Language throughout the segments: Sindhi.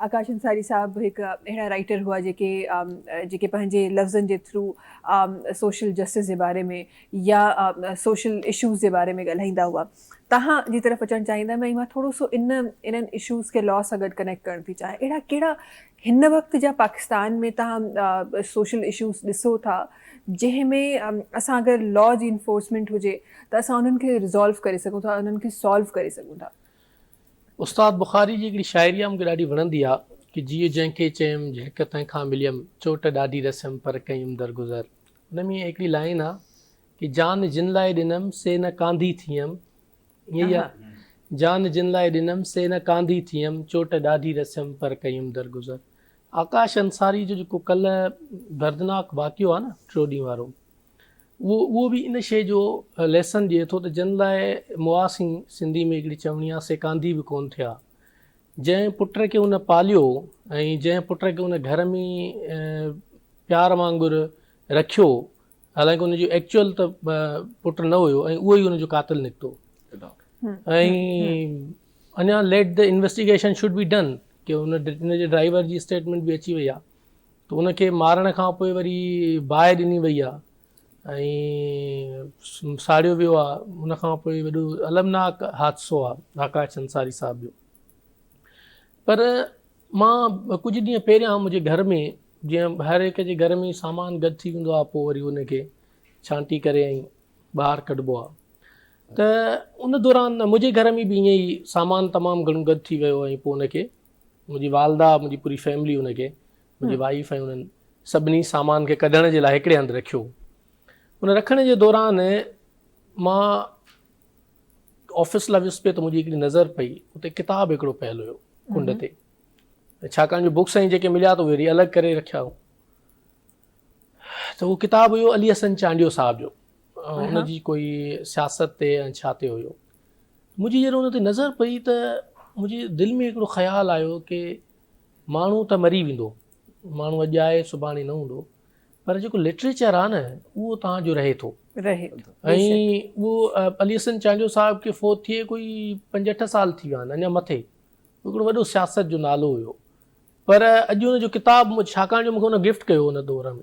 آڪاش انصاري صاحب هڪ اهڙا رائيٽر هئا جيڪي جيڪي پنهنجي لفظن جي ٿرو سوشل جسٽس جي باري ۾ يا سوشل اشوز جي باري ۾ ڳالهائيندا هئا توهان جي طرف اچڻ چاهيندم ۽ مان ٿورو سو ان انهن اشوز کي لا سان گڏ ڪنيڪٽ ڪرڻ ٿي چاهيان اهڙا ڪهڙا هن وقت جا پاڪستان ۾ توهان سوشل اشوز ڏسو ٿا جنهن ۾ اسان اگر لا جي انفورسمينٽ هجي ته اسان انهن کي ريزالو ڪري سگهون ٿا انهن کي سالو ڪري سگهون ٿا استاد بخاري جي هڪڙي شاعري آ مون کي ڏاڍي وڻندي آ ڪي جيء جنهن کي چيم جهڪ تنهن کان مليم چوٽ ڏاڍي رسيم پر ڪيم درگذر ان ۾ هڪڙي لائين آ ڪي جان جن لاء ڏنم سي نه ڪانڌي ٿيم ائين ئي آ جان جن لاء ڏنم سي نه ڪانڌي ٿيم چوٽ ڏاڍي رسيم پر ڪيم درگذر آڪاش انصاري جو جيڪو ڪلهه دردناڪ واقعو آ نه ٽيون ڏينهن وارو اهو به ان شيء جو ليسن ڏئي ٿو ته جن لاء مئا سين، سنڌي ۾ هڪڙي چوڻي آهي، سيڪانڌي به ڪونه ٿيا. جنهن پٽ کي هن پاليو ۽ جنهن پٽ کي هن گهر ۾ پيار وانگر رکيو، حالانڪه ان جو ايڪچوئل ته پٽ نه هيو ۽ اهو ئي ان جو قاتل نڪتو. ۽ اڃا let the investigation should be done, ڪي ان جي ڊرائيور جي اسٽيٽمينٽ به اچي وئي آهي. ته ان کي مارڻ کان پوء وري باهه ڏني وئي آهي ۽ ساڙيو ويو آهي ان کان پوء وڏو المناڪ حادثو آهي آڪاش انصاري صاحب جو پر مان ڪجهه ڏينهن پهريان منهنجي گهر ۾ جيئن هر هڪ جي گهر ۾ سامان گڏ ٿي ويندو آهي پوء وري ان کي ڇانٽي ڪري ۽ ٻاهر ڪڍبو آهي ته ان دوران منهنجي گهر ۾ به ائين ئي سامان تمام گهڻو گڏ ٿي ويو ۽ پوء ان کي منهنجي والده، منهنجي پوري فيملي ان کي، منهنجي وائيف ۽ انهن سڀني سامان کي ڪڍڻ جي لاء هڪڙي هنڌ رکيو. ان رکڻ جي دوران مان آفيس لاء ويس پئي ته منهنجي هڪڙي نظر پئي، اتي ڪتاب هڪڙو پيل هيو ڪنڊ تي. ڇاڪاڻ جو بڪس ۽ جيڪي مليا ته اهي وري الڳ ڪري رکيا هو. ته اهو ڪتاب هيو علي حسن چانڊيو صاحب جو. ان جي ڪوئي سياست تي ۽ ڇا تي هيو منهنجي جڏهن ان تي نظر پئي ته منهنجي دل ۾ هڪڙو خيال آيو ڪي ماڻهو ته مري ويندو ماڻهو اڄ آهي سڀاڻي نه هوندو پر جيڪو لٽريچر آهي نه اهو توهان جو رهي ٿو رهي ٿو ۽ اهو علي حسن چانڊيو صاحب کي فوت ٿئي ڪوئي پنج اٺ سال ٿي ويا آهن اڃا مٿي هڪڙو وڏو سياست جو نالو هيو پر اڄ ان جو ڪتاب ڇاڪاڻ جو مونکي ان گفٽ ڪيو ان دور ۾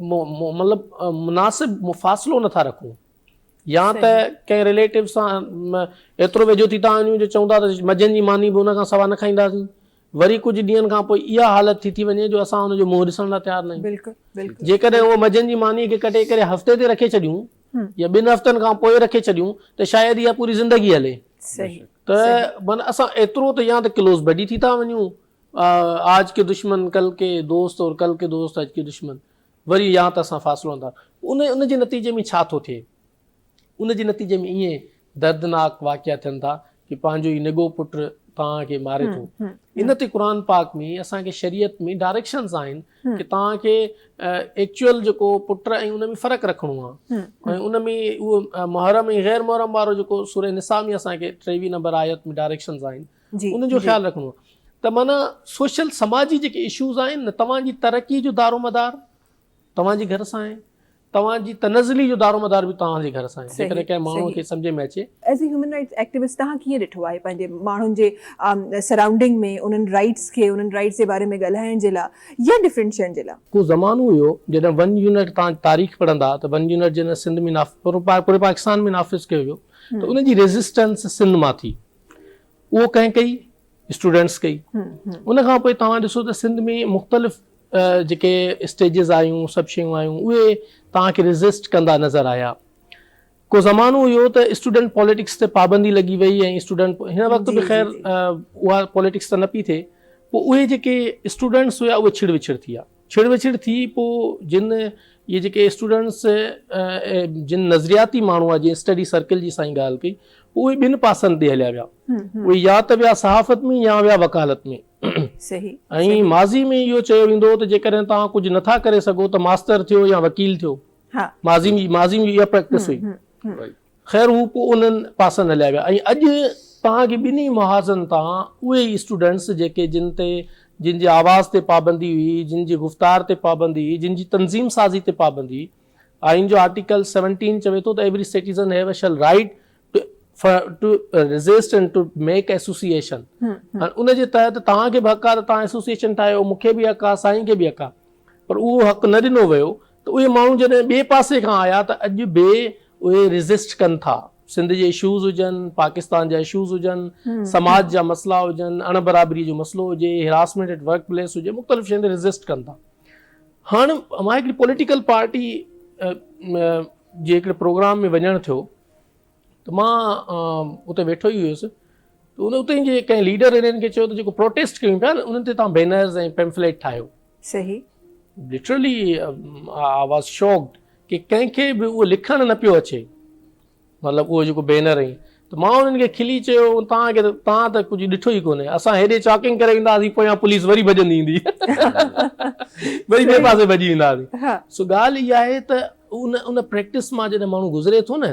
مطلب مناسب مفاصلو نٿا رکون يا ته ڪنهن رليٽو سان ايترو ويجهو ٿي ٿا وڃون جو چون ٿا ته مجن جي ماني به ان کان سوا نه کائينداسين وري ڪجهه ڏينهن کان پوء اها حالت ٿي ٿي وڃي جو اسان ان جو منهن ڏسڻ لاء تيار نه آهيون جيڪڏهن اهو مجن جي ماني کي ڪٽي ڪري هفتي تي رکي ڇڏيون يا ٻن هفتن کان پوء رکي ڇڏيون ته شايد اها پوري زندگي هلي ته مانا اسان ايترو ته يا ته ڪلوز بڊي ٿي ٿا وڃون آج ڪي دشمن ڪل ڪي دوست اور ڪل ڪي دوست آج ڪي دشمن وري يا ته اسان فاصلو آندا ان ان جي نتيجي ۾ ڇا ٿو ٿئي ان جي نتيجي ۾ ائين دردناڪ واقعا ٿين ٿا ڪي پنهنجو ئي نگو پٽ توهان کي ماري ٿو ان تي قرآن پاڪ ۾ اسان کي شريعت ۾ ڊائريڪشنز آهن ڪي توهان کي ايڪچوئل جيڪو پٽ ۽ ان ۾ فرق رکڻو آهي ۽ ان ۾ اهو محرم ۽ غير محرم وارو جيڪو سوري نساء ۾ اسان کي ٽيوي نمبر آيت ۾ ڊائريڪشنز آهن ان جو خيال رکڻو آهي ته معنيٰ سوشل سماجي جيڪي اشوز آهن نه توهان جي ترقي جو دارو مدار توهان جي گهر سان آهي توهان جي تنزلي جو دارو مدار به توهان جي گهر سان آهي جيڪڏهن ڪنهن ماڻهو کي سمجهه ۾ اچي as a human rights activist توهان ڪيئن ڏٺو آهي پنهنجي ماڻهن جي سرائونڊنگ ۾ انهن رائٽس کي انهن رائٽس جي باري ۾ ڳالهائڻ جي لاء يا ڊفرنٽ شين جي لاء. ڪو زمانو هيو جڏهن ون يونٽ توهان تاريخ پڙهندا ته ون يونٽ جنهن سنڌ ۾ پوري پاڪستان ۾ نافذ ڪيو ويو ته ان جي ريزسٽنس سنڌ مان ٿي اهو ڪنهن ڪئي؟ اسٽوڊنٽس ڪئي. ان کان پوء توهان ڏسو ته سنڌ ۾ مختلف جيڪي اسٽيجز آيون، سڀ شيون آيون، اهي توهان کي ريزسٽ ڪندا نظر آيا. ڪو زمانو هيو ته اسٽوڊنٽ پاليٽڪس تي پابندي لڳي وئي ۽ اسٽوڊنٽ هن وقت به خير اها پاليٽڪس ته نه پئي ٿئي. پوء اهي جيڪي اسٽوڊنٽس هيا اهي ڇڙ وڇڙ ٿي ويا. ڇڙ وڇڙ ٿي پوء جن اهي جيڪي اسٽوڊنٽس جن نظرياتي ماڻهو آهي جنهن اسٽڊي سرڪل جي سائين ڳالهه ڪئي پوء اهي ٻن پاسن تي هليا ويا اهي يا ته ويا صحافت ۾ يا ويا وڪالت ۾ ۽ ماضي ۾ اهو چيو ويندو هو ته جيڪڏهن توهان ڪجهه نٿا ڪري سگهو ته ماستر ٿيو يا وڪيل ٿيو ماضي ۾ اها پريڪٽس هئي خير هو پوء انهن پاسن هليا ويا ۽ اڄ توهان کي ٻنهي محاذن تان اهي ئي اسٽوڊنٽس جيڪي جن تي جن جي آواز تي پابندي هئي، جن جي گفتار تي پابندي هئي، جن جي تنظيم سازي تي پابندي هئي. آئين جو آرٽيڪل سيونٽين چوي ٿو ته every citizen have a shall right to resist and to make association ۽ ان جي تحت توهان کي به حق آهي ته توهان ايسوسيئيشن ٺاهيو، مون کي به حق آهي، سائين کي به حق آهي پر اهو حق نه ڏنو ويو ته اهي ماڻهو جڏهن ٻئي پاسي کان آيا ته اڄ به اهي ريزسٽ ڪن ٿا. سنڌ جي اشوز هجن، پاڪستان جا اشوز هجن، سماج جا مسئلا هجن، اڻ برابري جو مسئلو هجي، هراسمينٽ ايٽ ورڪ پليس هجي، مختلف شين تي ريزسٽ ڪن ٿا. هاڻ مان هڪڙي پوليٽيڪل پارٽي جي هڪڙي پروگرام ۾ وڃڻ ٿيو ته مان اتي ويٺو ئي هيس ته ان اتي جي ڪنهن ليڊر انهن کي چيو ته جيڪو پروٽيسٽ ڪيون پيا انهن تي توهان بينرز ۽ پيمفليٽ ٺاهيو صحيح لٽرلي آء واز شاڪڊ ڪي ڪنهن کي به اهو لکڻ نه پيو اچي مطلب اهو جيڪو بينر ۽ ته مان انهن کي کلي چيو توهان کي توهان ته ڪجهه ڏٺو ئي ڪونهي اسان هيڏي چاڪنگ ڪري ويندا هئاسين پويان پوليس وري ڀڄندي ايندي وري ٻئي پاسي ڀڄي ويندا هئاسين سو ڳالهه اها آهي ته ان ان پريڪٽس مان جڏهن ماڻهو گذري ٿو نه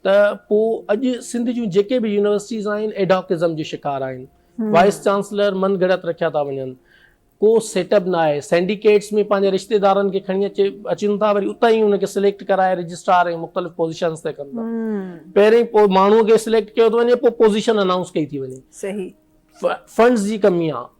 ته پوء اڄ سنڌ جون جيڪي به يونيورسٽيز آهن ايڊهاڪ ازم جي شڪار آهن وائيس چانسلر من گهڙت رکيا ٿا وڃن ڪو سيٽ اپ نه آهي سينڊيڪيٽس ۾ پنهنجي رشتيدارن کي کڻي اچي اچن ٿا وري اتان ئي ان کي سليڪٽ ڪرائي رجسٽرار ۽ مختلف پوزيشنز تي ڪن ٿا پهرين پوء ماڻهو کي سليڪٽ ڪيو ٿو وڃي پوء پوزيشن انائونس ڪئي ٿي وڃي صحيح فنڊز جي ڪمي آهي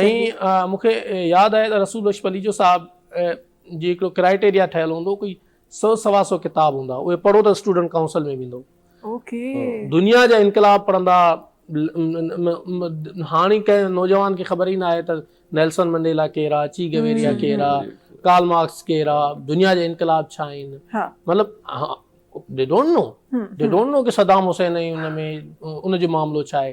۽ مون کي ياد آهي ته رسول بخش پليجو صاحب جي هڪڙو ڪرائيٽيريا ٺهيل هوندو ڪوئي سؤ سوا سؤ ڪتاب هوندا اهي پڙهو ته اسٽوڊنٽ ڪائونسل ۾ ويندو دنيا جا انقلاب پڙهندا هاڻي ڪنهن نوجوان کي خبر ئي نه آهي ته نيلسن منڊيلا ڪير آهي چي گويريا ڪير آهي ڪارل مارڪس ڪير آهي دنيا جا انقلاب ڇا آهن مطلب they don't know they don't know ڪي صدام حسين ۽ ان ۾ ان جو معاملو ڇا آهي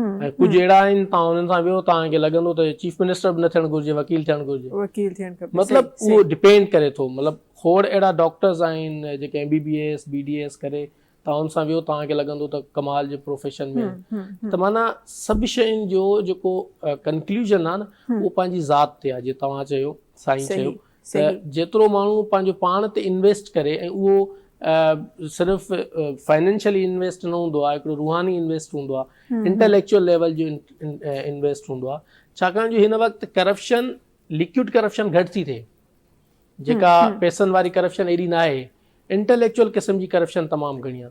۽ ڪجهه اهڙا آهن تان انهن سان ويهو تان کي لڳندو ته هي چيف منسٽر به نه ٿيڻ گهرجي وڪيل ٿيڻ گهرجي مطلب اهو ڊپينڊ ڪري ٿو مطلب کوڙ اهڙا ڊاڪٽرز آهن جيڪي M B B S B D S ڪري تان ان سان ويهو تان کي لڳندو ته ڪمال جي پروفيشن ۾ ته معنيٰ سڀ شين جو جيڪو ڪنڪلوجن آهي نه اهو پنهنجي ذات تي آهي جي توهان چيو سائين چيو ته جيترو ماڻهو پنهنجو پاڻ تي انويسٽ ڪري ۽ اهو صرف فائنينشلي انويسٽ نه هوندو آهي هڪڙو روحاني انويسٽ هوندو آهي انٽيليڪچوئل ليول جو انويسٽ هوندو آهي ڇاڪاڻ جو هن وقت ڪرپشن لڪوئڊ ڪرپشن گهٽ ٿي ٿئي جيڪا پيسن واري ڪرپشن ايڏي ناهي انٽيليڪچوئل قسم جي ڪرپشن تمام گهڻي آهي